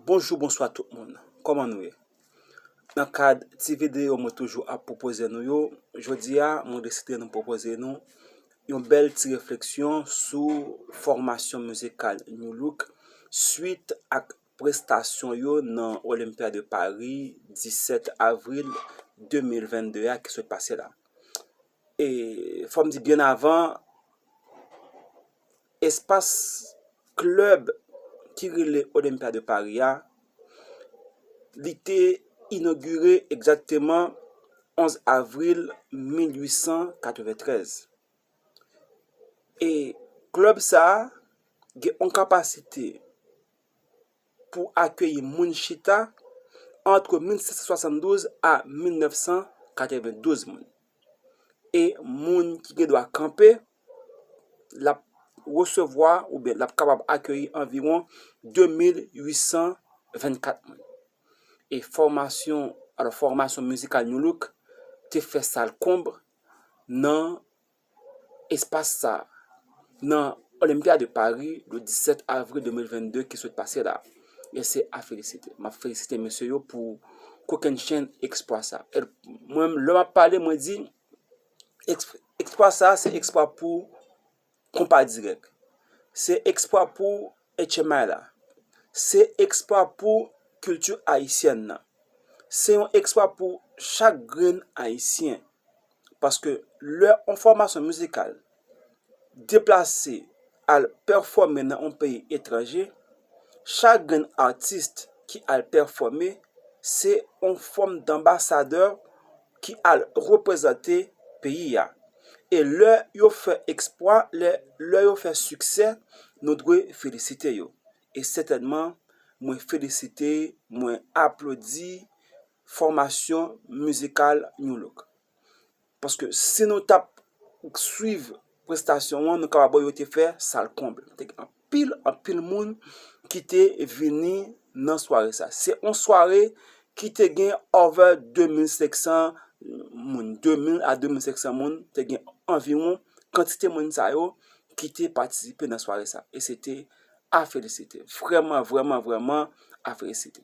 Bonjou bonswa tout moun, kòman nou ye? Nan kad ti videyo mwen toujou ap pwopoze nou yo, jodi a mwen deside nou pwopoze nou yon bèl ti refleksyon sou fòmasyon mizikal Nu Look suit ak prestasyon yo nan Olympia de Paris 17 avril 2022 a ki sot pase la. E fò m di byen avan, espas klèb ki rele Olympia de Paris a, li te inogire egzakteman 11 avril 1893. E klèb sa a gen yon kapasite pou akeyi moun chita antre 1772 a 1992 moun. E moun ki gen dwa kanpe, l ap resevwa oubyen l ap kapab akeyi anviwon 2824 moun. E fòmasyon, alò fòmasyon mizikal Nu Look te fè sal konb nan espas sa a nan Olympia de Paris le 17 avril 2022 ki sot pase la. E se a felisite. M ap felisite mesye yo pou kokennchenn eksplwa sa. Mwen menm lè m ap pale mwen di eksplwa sa a se eksplwa pou konpa dirèk. Se eksplwa pou etchemay la. Se eksplwa pou kilti ayisyèn nan. Se yon eksplwa pou chak grenn ayisyen. Paske lè yon fòmasyon mizikal deplase al pèfòme nan yon peyi etranje, chak grenn atis ki al pèfòme se yon fòm danbasadè ki al reprezante peyi a. E lè yo fè eksplwa, lè yo fè siksè, nou dwe felisite yo. E sètènman, mwen felisite, mwen aplodi. fòmasyon mizikal Nu Look. Paske si nou tap swiv prestasyon an, nou kapab wè yo te fè sal konble. Te gen anpil, anpil moun ki te vini nan sware sa. Se yon sware ki te gen over 2500 moun, 2000 a 2500 moun, te gen anviwon kantite moun sa yo ki te patisipe nan sware sa. E se te a felisite. Vrèman, vrèman, vrèman a felisite.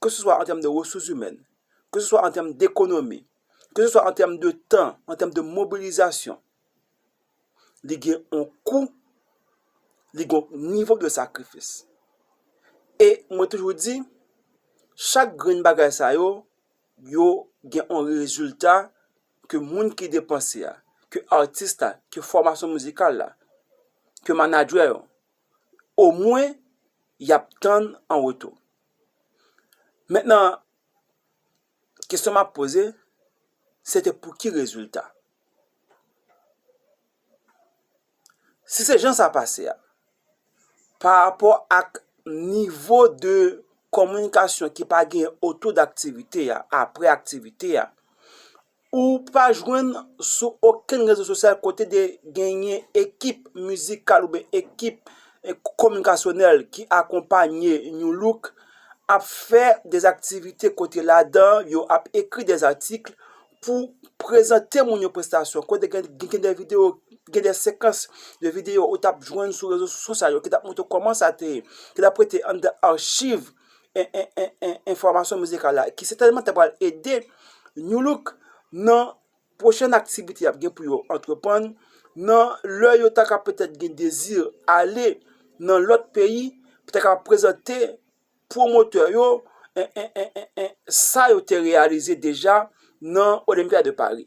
ke se swa an tèm de resouzimèn, ke se swa an tèm dekonomi, ke se swa an tèm de tan, an tèm de mobilizasyon, li gen yon kou, li gen yon nivo de sakrifis. E mwen toujou di, chak grenn bagay sa yo, yo gen yon rezilta ke moun ki depanse a, ke atis la, ke fòmasyon mizikal la, ke manadjè yo. omwen y ap tann an retou. Mentnan, kesyon m ap poze, se te pou ki rezilta? Si se jan sa pase a, parapò ak nivo de kominikasyon ki pa gen otou daktivite a, apre aktivite a, Ou pa jwenn sou okenn rezo sosyal kote te genyen ekip mizikal oubyen ekip kominikasyonèl ki akonpanye Nu Look ap fè des aktivite kote ladan yo ap ekri des atikl pou prezante moun yo prestasyon kote gen de videyo, gen de sekans de videyo ou t ap jwenn sou rezo sosyal yo ki t ap montre w kòman sa te ye, ki t ap rete anndan achiv. enfòmasyon mizikal la ki sètèlman ta pral ede Nu Look nan pwochèn aktivite y ap gen pou yo antreprann nan lè yo ta ka petèt gen dezi ale nan lòt peyi pou yo ta ka prezante pwomotè yo sa yo te reyalize deja nan Olympia de Paris.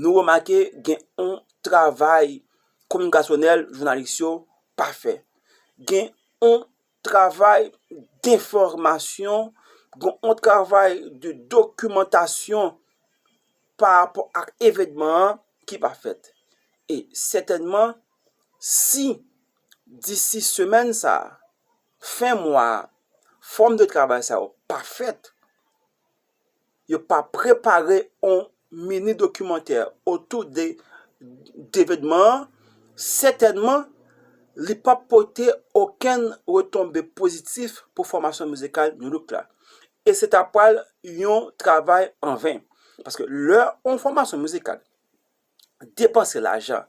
Nou remake gen yon travay kominikasyonèl jounalis yo pa fè. Gen yon travay denfòmasyon, gen yon travay de dokimantasyon parapò ak evènman an ki pa fèt. E sètènman, si disi semèn sa a, fen mwa a, fòm de travay sa yo pa fèt, Yo pa prepare on mini dokimantè otou de evenman an, sètènman li p ap pote okenn retonbe pozitif pou fòmasyon mizikal Nu Look la. E se ta pral yon travay an ven. Paske lè on fòmasyon mizikal depanse lajan,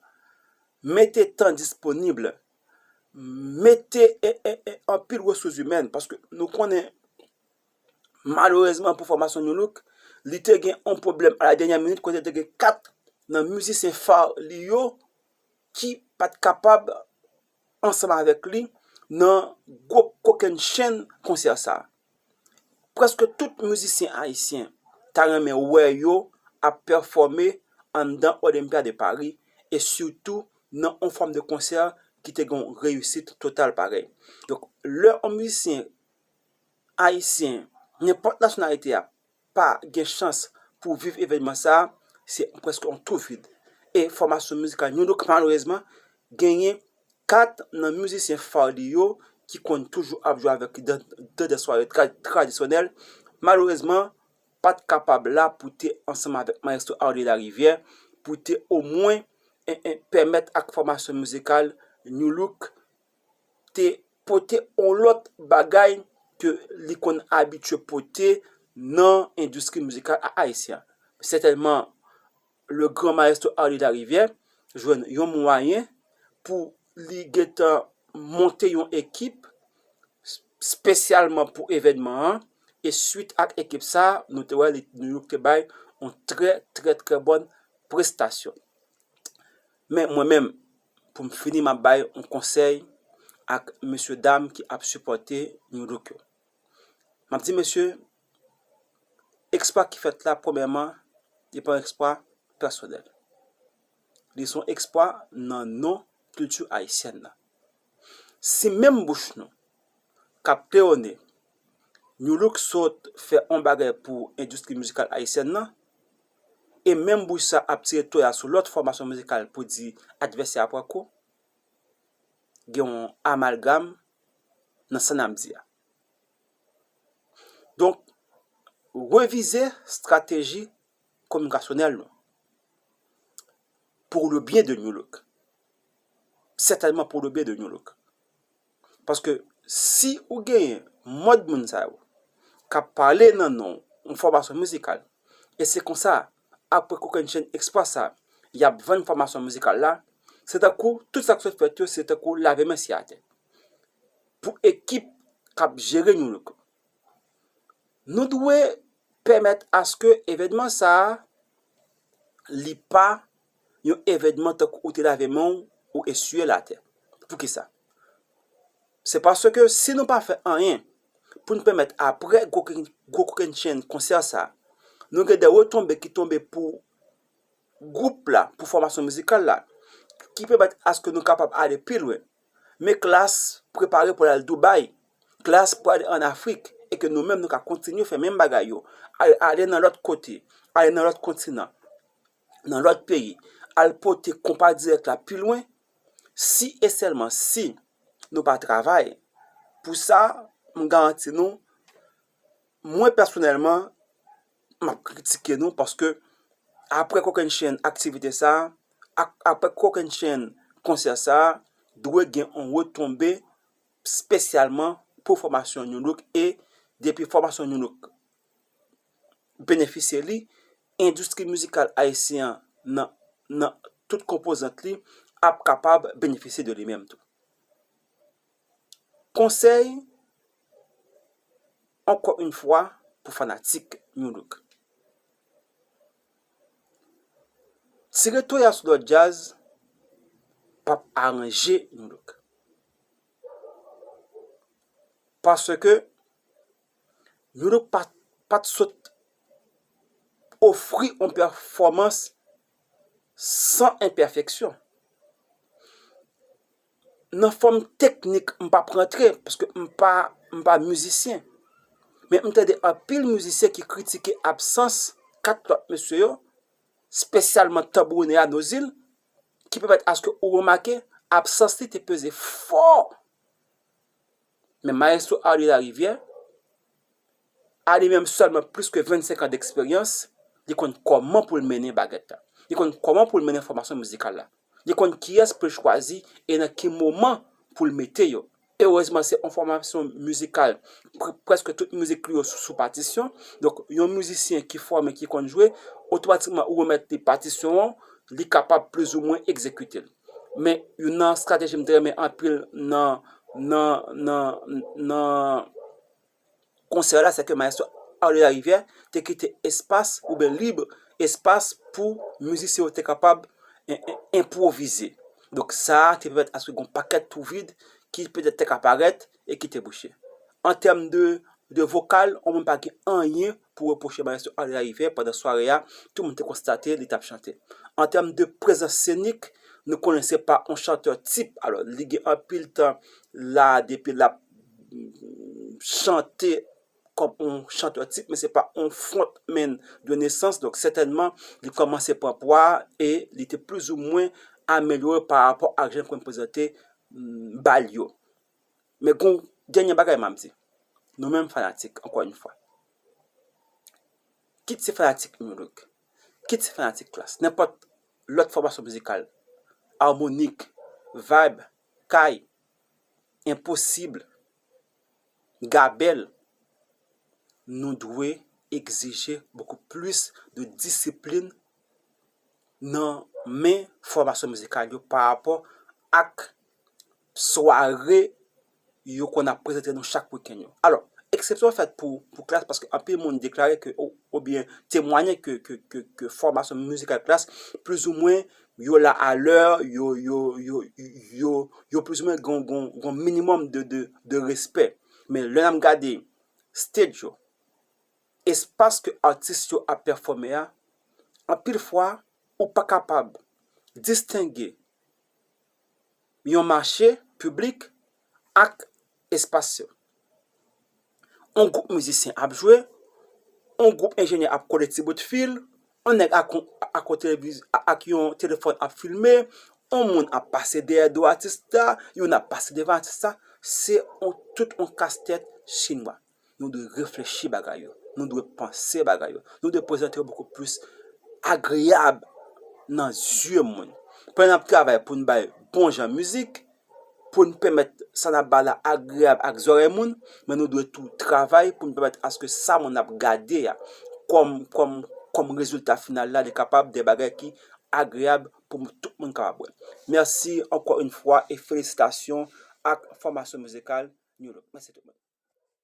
mete tan disponib, mete anpil resous imèn, paske nou konnen. Malerezman pou fòmasyon Nu Look, li te gen yon pwoblèm a la dènyè minit kote te gen 4 nan mizisyen fa li yo ki pa t kapab ansanm avèk li nan gwo kokennchenn konsè sa. Prèske tout mizisyen ayisyen ta renmen wè yo ap pèfòme anndan Olympia de Paris e sitou nan yon fòm de konsè ki te gen yon reyisit total parèy. Donk lè yon mizisyen. Ayisyen, nenpòt nasyonalite a, pa gen chans pou viv evènman sa a, se prèske yon twou vid. E fòmasyon mizikal New Look malerezman genyen 4 nan mizisyen fa li yo ki konn toujou ap jwe avèk li nan dè sware tradisyonèl, malerezman pa t kapab la pou te ansanm avèk Mayestwo Arly Larivière pou te omwen pèmèt ak fòmasyon mizikal New Look. te pote yon lòt bagay ke li konn abitye pote nan endistri mizikal ayisyen an. Sètènman, le gran maestro Arly Larivière jwenn yon mwayen pou li gen tan monte yon ekip spesyalman pou evènman an, e swit ak ekip sa, nou te wè li te bay yon trè trè trè bòn prestasyon. Men mwen menm pou m fini map bay yon konsèy ak mesye dam ki ap sipòte New Look yo. Map di mesye, eksplwa ki fèt la premyèman li pa yon eksplwa pèsonèl. Li se yon eksplwa nan non kilti ayisyèn nan. Si menm bouch nou kap kleyone New Look sot fè yon bagay pou endistri mizikal ayisyèn nan, e menm bouch sa ap tire toya sou lòt fòmasyon mizikal pou di advèsè a pran kou. Gen yon amalgam nan sa n ap di a. Donk, revize strateji kominikasyonèl nou pou le byen de Nu Look. Sètènman pou le byen de Nu Look. Paske si ou genyen mòd moun sa yo k ap pale nan non w, yon fòmasyon mizikal, e se konsa, apre kokennchenn eksplwa sa, y ap vann fòmasyon mizikal la, se tankou tout sa k sot fèt yo se tankou lave men si atè. Pou ekip k ap jere nou yo, nou dwe pèmèt aske evènman sa a li pa. yon evènman tankou ou te lave men w, ou eswiye l atè. Poukisa? Se paske si nou pa fè anyen pou n pèmèt aprè gwo kokennchenn konsè sa a, nou gen de retonbe ki tonbe pou gwoup la, pou fòmasyon mizikal la, ki pèmèt aske nou kapab ale pi lwen. Men Klass prepare pou l al Dubai, Klass pou l ale an Afrik, e ke nou menm nou ka kontinye fè menm bagay yo, ale nan lòt kote, ale nan lòt kontinan. nan lòt peyi al pote konpa dirèk la pi lwen si e sèlman si nou pa travay pou sa m garanti nou mwen pèsonèlman m ap kritike nou paske aprè kokennchenn aktivite sa aprè kokennchenn konsè sa dwe gen yon retonbe spesyalman pou fòmasyon nou nou e depi fòmasyon nou nou benefisye li, endistri mizikal ayisyen an nan tout konpozant li ap kapab benefisye de li menm tou. Konsèy, ankò yn fwa, pou fanatik Nu Look, tire toya sou lòt djaz p ap aranje Nu Look, paske. Yo donk pa t sot ofri yon pèfòmans san enpèfeksyon. Nan fòm teknik, m p ap rantre paske m pa mizisyen, men m tande anpil mizisyen ki kritike absans kat lòt mesye yo, espesyalman tanbourinè a, Nozil, ki pèmèt aske ou remake absans li te peze fò. Men Maestro Arly Larivière, a li menm sèl mwen plis ke 25 an deksperyans, li konn kòman pou l mennen bagèt la. Li konn kòman pou l mennen fòmasyon mizikal la. Li konn kiyès pou l chwazi e nan ki moman pou l mete yo. Erezman se yon fòmasyon mizikal, prèske tout mizik li yo sou patisyon, donk yon mizisyen ki fòme, ki konn jwe, otomatikman ou remèt li patisyon an, li kapab plizoumwen egzekite l. Men youn nan estrateji m te renmen anpil nan konsè la se ke Mayèstro Arly Lariviere te kite espas oubyen lib espas pou mizisyen yo te kapab enpwovize. Donk sa te pèmèt aske gen yon pakèt twou vid ki petèt te ka parèt. e ki te bouche. An tèm de de vokal, ou menm pa gen anyen pou repwoche mayestwo André Larivière pandan sware a, tout moun te konstate li t ap chante. An tèm de prezans senik, nou konnen se pa yon chantè tip, alò li gen anpil tan la a depi l ap chante kòm yon chantè tip men se pa yon front man de nesans donk sètènman li kòmanse pran pwa e li te plizoumwen amelyore parapò ak jan yo konn prezante ba l yo. Men gon dènye bagay map di nou menm fanatik ankò yn fwa kit se fanatik Nu Look kit se fanatik Klass nenpòt lòt fòmasyon mizikal Harmonik, Vayb, Kay, Enposib, Gabèl nou dwe egzije bokou plis de disiplin nan men fòmasyon mizikal yo parapò ak. sware yo konn ap prezante nou chak wikenn yo. Alò, eksepsyon fèt pou Klass paske anpil moun deklare ke oubyen temwanye ke fòmasyon mizikal Klass plizoumwen yo la a lè, yo plizoumwen gon minimòm de respè. Men lè n ap gade stage yo, espas ke atis yo ap pèfòme a, anpil fwa ou pa kapab distenge. yon mache piblik ak espas yo. On gwoup mizisyen ap jwe, on gwoup enjenyè ap kole ti bout fil, on nèg ak yon telefòn ap filme, on moun ap pase dèyè do atis la, youn ap pase devan atis la, se on tout on kastèt chinwa. Nou dwe reflechi bagay yo. Nou dwe panse bagay yo. Nou dwe prezante yo bokou plis agreyab nan zye moun. Pandan n ap travay pou n bay bon jan mizik, pou n pèmèt sa n ap bay la agreyab ak zòrèy moun, men nou dwe tou travay pou n pèmèt aske sa moun ap gade a, kòm rezilta final la, li kapab de bagay ki agreyab pou tout moun kapab wè l. Mèsi ankò in fwa e felisitasyon ak fòmasyon mizikal.